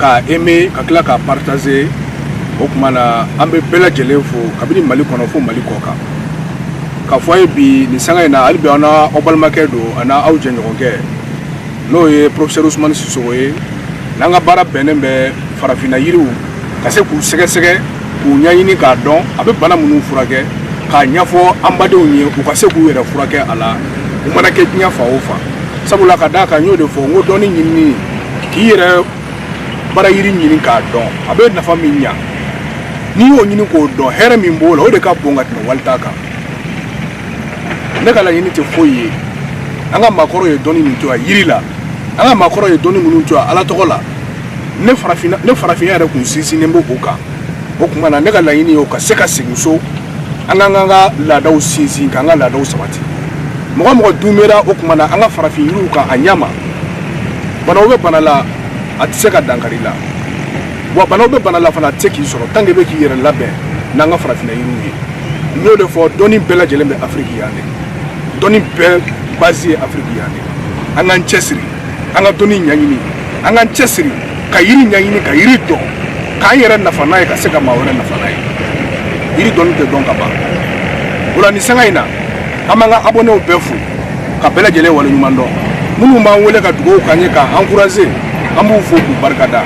k'a eme ka tila k'a partager o tuma na an bɛ bɛɛ lajɛlen fo kabini mali kɔnɔ fo mali kɔ kan k'a fɔ aw ye bi nin sanga in na hali bi aw n'aw balimakɛ don aw n'aw jɛɲɔgɔnkɛ n'o ye professeur usumani sisogo ye n'an ka baara bɛnnen bɛ farafinna yiriw ka se k'u sɛgɛsɛgɛ k'u ɲɛɲini k'a dɔn a bɛ bana minnu furakɛ k'a ɲɛfɔ an badenw ye u ka se k'u yɛrɛ furakɛ a la u mana kɛ diɲɛ fan o fan sabula ka d'a kan n y'o de fɔ n ko dɔnni ɲinini k'i yɛrɛ bara yiri ɲini k'a dɔn a bɛ nafa min ɲa n'i y'o ɲini k'o dɔn hɛrɛ min b'o la o de ka bon ka tɛmɛ wali ta kan ne ka laɲini tɛ foyi ye an ka maakɔrɔw ye dɔnni min to yan yiri la an ka maakɔrɔw ye dɔnni minnu to yan ala tɔgɔ la ne farafinna yɛrɛ kun sinsinnen bɛ o kan o tuma na ne ka laɲini y'o ka se ka segin so an k'an k'an ka laadaw sinsin k'an ka laadaw sabati mɔgɔ o mɔgɔ dumera o tuma na an ka farafin yiriw kan a ɲama banaw bɛ bana la a tɛ se ka dankari i la wa banaw bɛ bana la fana a tɛ se k'i sɔrɔ tant que i bɛ k'i yɛrɛ labɛn n'an ka farafinna yiriw ye n y'o de fɔ dɔnni bɛɛ lajɛlen bɛ afiriki yan de dɔnni bɛɛ base ye afiriki yan de an k'an cɛsiri an ka dɔnni ɲɛɲini an k'an cɛsiri ka yiri ɲɛɲini ka yiri dɔn k'an yɛrɛ nafa n'a ye ka se ka maa wɛrɛ nafa n'a ye yiri dɔnni tɛ dɔn ka ban o la nin sanga in na an b'an ka abɔnew bɛɛ fo ka bɛɛ lajɛlen waleɲuman dɔn minnu b'an wele ka dugawu k'an ye k'an ankuraze an b'u fo k'u barika da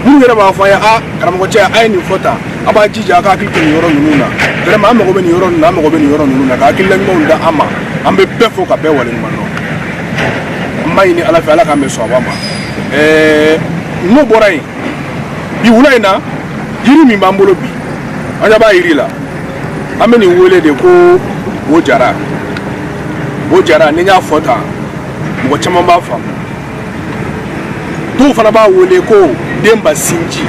minnu yɛrɛ b'a fɔ an ye a karamɔgɔ cɛ a ye nin fɔ tan a b'a jija a ka hakili to nin yɔrɔ ninnu na vraiment an mago bɛ nin yɔrɔ ninnu na an mago bɛ nin yɔrɔ ninnu na ka hakilila ɲumanw da an ma an bɛ bɛɛ fo ka bɛɛ waleɲuman dɔn n b'a ɲini ala fɛ ala k'an bɛɛ sɔn a ma n'o bɔra yen bi wula in na yiri min b'an bolo bi an ɲɛ b'a yiri la an bɛ nin wele de ko bojara bojara ni n y'a fɔ tan mɔgɔ caman b'a faamu dɔw fana b'a wele ko denba sinji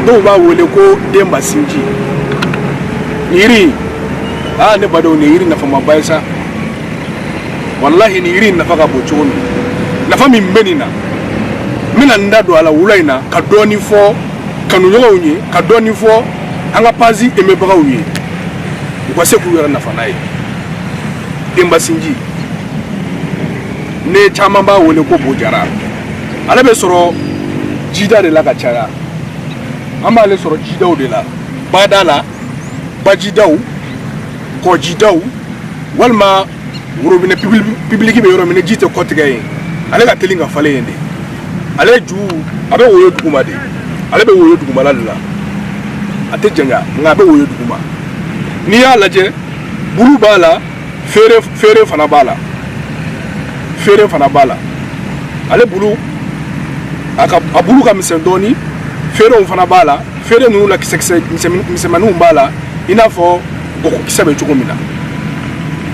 dɔw b'a wele ko denba sinji yiri aa ne badenw nin ye yiri nafamaba ye sa walahi nin yiri in nafa ka bon cogo min nafa min bɛ nin na n bɛna n da don a la wula in na ka dɔɔni fɔ kanuɲɔgɔnw ye ka dɔɔni fɔ an ka pazi emebagaw ye u ka se k'u yɛrɛ nafa n'a ye denbasinji nin caman b'a wele ko bojara ale bɛ sɔrɔ jida de la ka caya an b'ale sɔrɔ jidaw de la bada la bajidaw kɔjidaw walima worobinɛ pibiliki bɛ yɔrɔ min ji tɛ kɔtigɛ yen ale ka teli ka falen yen de ale ju a bɛ woyo duguma de ale bɛ woyo dugumala de la a tɛ janya nka a bɛ woyo duguma n'i y'a lajɛ bulu b'a la feere feere fana b'a la feere fana b'a la ale bulu a ka a bulu ka misɛn dɔɔnin feerew fana b'a la feere ninnu na kisɛkisɛ misɛnmaninw b'a la i n'a fɔ gɔkɔkisɛ bɛ cogo min na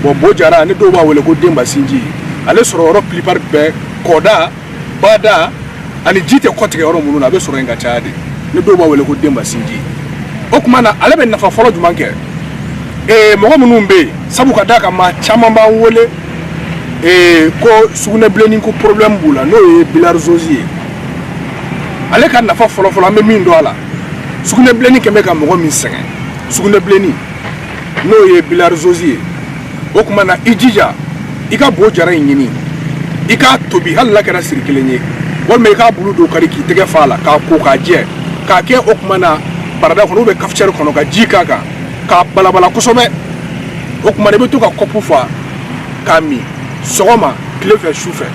bɔn bo jara ni dɔw b'a wele ko denba sinji ale sɔrɔ yɔrɔ plupart bɛɛ kɔda bada ani ji tɛ kɔtigɛ yɔrɔ minnu na a bɛ sɔrɔ yen ka caya de ni dɔw b'a wele ko denba sinji o kuma na ale bɛ nafa fɔlɔ jumɛn kɛ ee mɔgɔ minnu bɛ yen sabu ka d'a kan maa caman b'an wele ee ko sugunɛbilenni ko problème b'u la n'o ye bilarizozi ye ale ka nafa fɔlɔfɔlɔ an bɛ min dɔn a la sugunɛbilenni kɛmɛ ka mɔgɔ min sɛgɛn sugunɛbilenni n'o ye bilarizozi ye o kuma na i jija i ka bo jara in ɲini i k'a tobi hali n'a kɛra siri kelen ye walima i k'a bulu dɔ kari k'i tɛgɛ fa a la k'a ko k'a jɛ k'a kɛ o kuma na barada kɔnɔ ou bien cafetière kɔnɔ ka ji k'a kan k'a balabala kosɛbɛ o kuma na i bɛ to ka kɔpu fa k'a min sɔgɔma tile fɛ su fɛ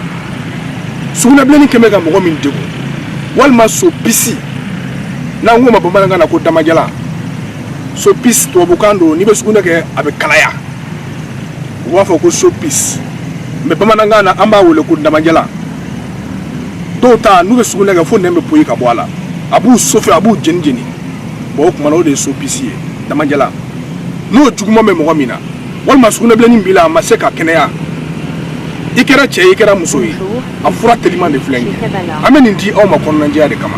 sugunɛbilenni kɛmɛ ka mɔgɔ min degun walima sopisi n'an k'o ma bamanankan na ko damajalan sopisi tubabukan don n'i bɛ sugunɛ kɛ a bɛ kalaya u b'a fɔ ko sopisi mais bamanankan na an b'a wele ko damajalan dɔw ta n'u bɛ sugunɛ kɛ fo nɛn bɛ poyi ka bɔ a la a b'u chauffer a b'u jeni jeni bɔn o kuma na o de ye sopisi ye damajalan n'o juguman bɛ mɔgɔ min na walima sugunɛbilennin b'i la a ma se ka kɛnɛya i kɛra cɛ i kɛra muso ye a fura teliman de filɛ nin ye an bɛ nin di aw ma kɔnɔnajɛya de kama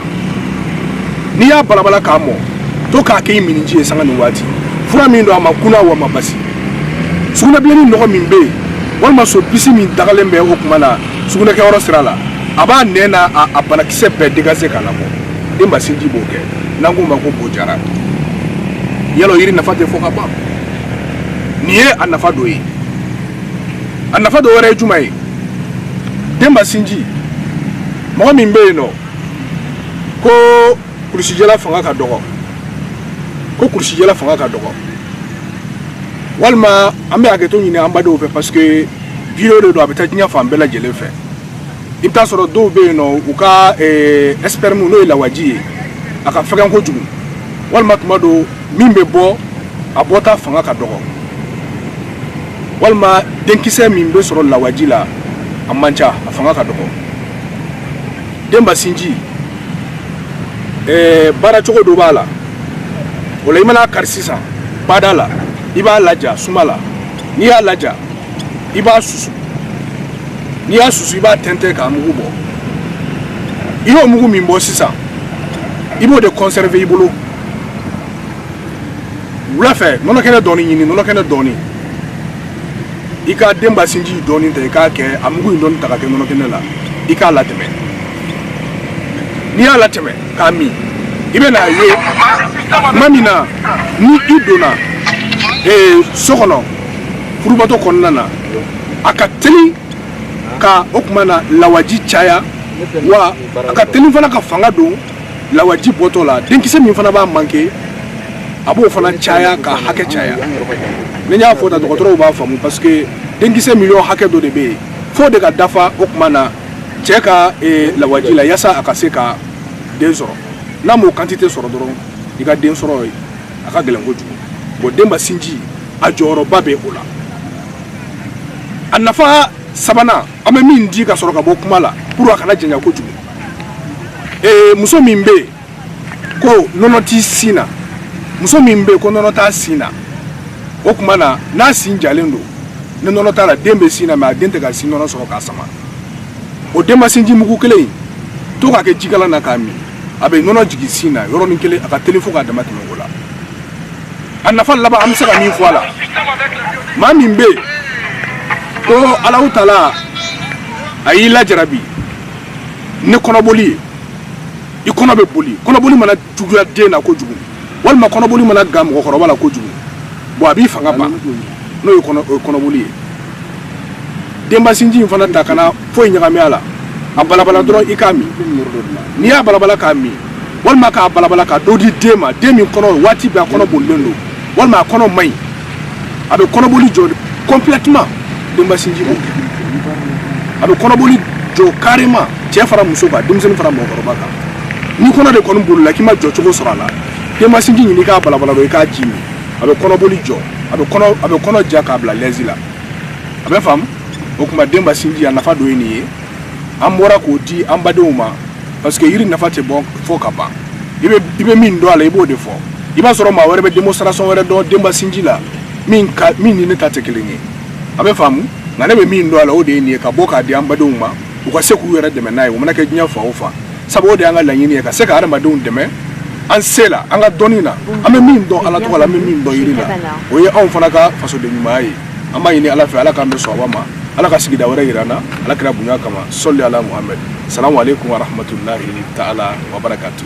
n'i y'a balabala k'a mɔ to k'a kɛ i minniji ye sanga ni waati fura min don a man kunan wa a man basi sugunɛbilennin nɔgɔ min bɛ yen walima sopisi min dagalen bɛ o kuma na sugunɛkɛyɔrɔ sira la a b'a nɛn n'a banakisɛ bɛɛ dégager k'a labɔ denba sinji b'o kɛ n'an k'o ma ko bojara y'a lɔn yiri nafa tɛ fɔ ka ban nin ye a nafa dɔ ye a nafa dɔ wɛrɛ ye jumɛn ye denba sinji mɔgɔ min bɛ yen n'o ko kulusijala fanga ka dɔgɔ ko kulusijala fanga ka dɔgɔ walima an bɛ hakɛto ɲini an badenw fɛ parce que video de don a bɛ taa diɲɛ fan bɛɛ lajɛlen fɛ i bɛ t'a sɔrɔ dɔw bɛ yen nɔ u ka sperme n'o ye lawaji ye a ka fɛgɛn kojugu walima tuma dɔ min bɛ bɔ a bɔta fanga ka dɔgɔ walima denkisɛ min bɛ sɔrɔ lawaji la a man ca a fanga ka dɔgɔ denba sinji ɛɛ baara cogo dɔ b'a la o la i man'a kari sisan bada la i b'a laja suma la n'i y'a laja i b'a susu n'i y'a susu i b'a tɛntɛn k'a mugu bɔ i y'o mugu min bɔ sisan i b'o de conserver i bolo wula fɛ nɔnɔkɛnɛ dɔɔni ɲini nɔnɔkɛnɛ dɔɔni i ka denba sinji dɔɔni ta i k'a kɛ a mugu in dɔɔni ta ka kɛ nɔnɔkɛnɛ la i k'a latɛmɛ n'i y'a latɛmɛ k'a min i bɛ n'a ye tuma min na ni i donna ee so kɔnɔ furubato kɔnɔna na a ka teli ka o kuma na lawaji caya wa a ka teli fana ka fanga don lawaji bɔtɔ la denkisɛ min fana b'a manquer a b'o fana caya ka hakɛ caya ni n y'a fɔ tan dɔgɔtɔrɔw b'a faamu parce que denkisɛ miliyɔn hakɛ dɔ de bɛ yen f'o de ka dafa o kuma na cɛ ka eh, lawaji la yasa a ka se ka den sɔrɔ n'a m'o quantité sɔrɔ dɔrɔn i ka den sɔrɔ a ka gɛlɛn kojugu bon denba sinji a jɔyɔrɔba bɛ o la a nafa sabanan an bɛ min di ka sɔrɔ ka bɔ kuma la pour a kana janya kojugu ee muso min bɛ yen ko nɔnɔ t'i sin na muso min bɛ yen ko nɔnɔ t'a sin na o kuma na n'a sin jalen don ni nɔnɔ t'a la den bɛ sin na mais a den tɛ ka sin nɔnɔ sɔrɔ k'a sama o denba sinji mugu kelen in to k'a kɛ jikalan na k'a min a bɛ nɔnɔ jigin sin na yɔrɔnin kelen a ka teli fo k'a dama tɛmɛ o la a nafa laban an bɛ se ka min fɔ a la maa min bɛ yen ko alahu taala a y'i lajarabi ni kɔnɔboli ye i kɔnɔ bɛ boli kɔnɔboli mana juguya den na kojugu walima kɔnɔboli mana gan mɔgɔkɔrɔba la kojugu bon a b'i fanga ban n'o ye kɔnɔboli ye denbasinji in fana ta kana foyi ɲagami a la a balabala dɔrɔn i k'a min n'i y'a balabala k'a min walima k'a balabala ka dɔ di den ma den min kɔnɔ waati bɛɛ a kɔnɔ bolilen don walima a kɔnɔ man ɲi a bɛ kɔnɔboli jɔ complètement denba sinji b'o kɛ a bɛ kɔnɔboli jɔ carrément cɛ fara muso kan denmisɛnnin fara mɔgɔkɔrɔba kan n'i kɔnɔ de kɔni bolila k'i ma jɔ cogo sɔrɔ a la denba sinji ɲini k'a balabala dɔrɔn i k'a ji min a bɛ kɔnɔboli jɔ a bɛ kɔnɔ a bɛ kɔnɔ ja k'a bila lɛzi la a bɛ faamu o kuma denba sinji a nafa dɔ ye nin ye an bɔra k'o di an badenw ma parce que yiri nafa tɛ bɔ fɔ ka ban i bɛ min dɔn a la i b'o de fɔ i b'a sɔrɔ maa wɛrɛ bɛ démonstration wɛrɛ dɔn denba sinji la min ni ne ta tɛ kelen ye a bɛ faamu nka ne bɛ min dɔn a la o de ye nin ye ka bɔ k'a di an badenw ma u ka se k'u yɛrɛ dɛmɛ n'a ye o mana kɛ diɲɛ fan o fan sabu o de y'an ka laɲini ye ka se ka adamadenw dɛmɛ an se la an ka dɔnni na an bɛ min dɔn ala tɔgɔ la an bɛ min dɔn yiri la o ye anw fana ka fasoden ɲumanya ye an b'a ɲini ala fɛ ala k'an bɛɛ sɔn a ma ala ka sigida wɛrɛ yira an na ala kira bonya kama sɔli ala muhamɛd salamu aleykum warahmatulahi taala wabarakatu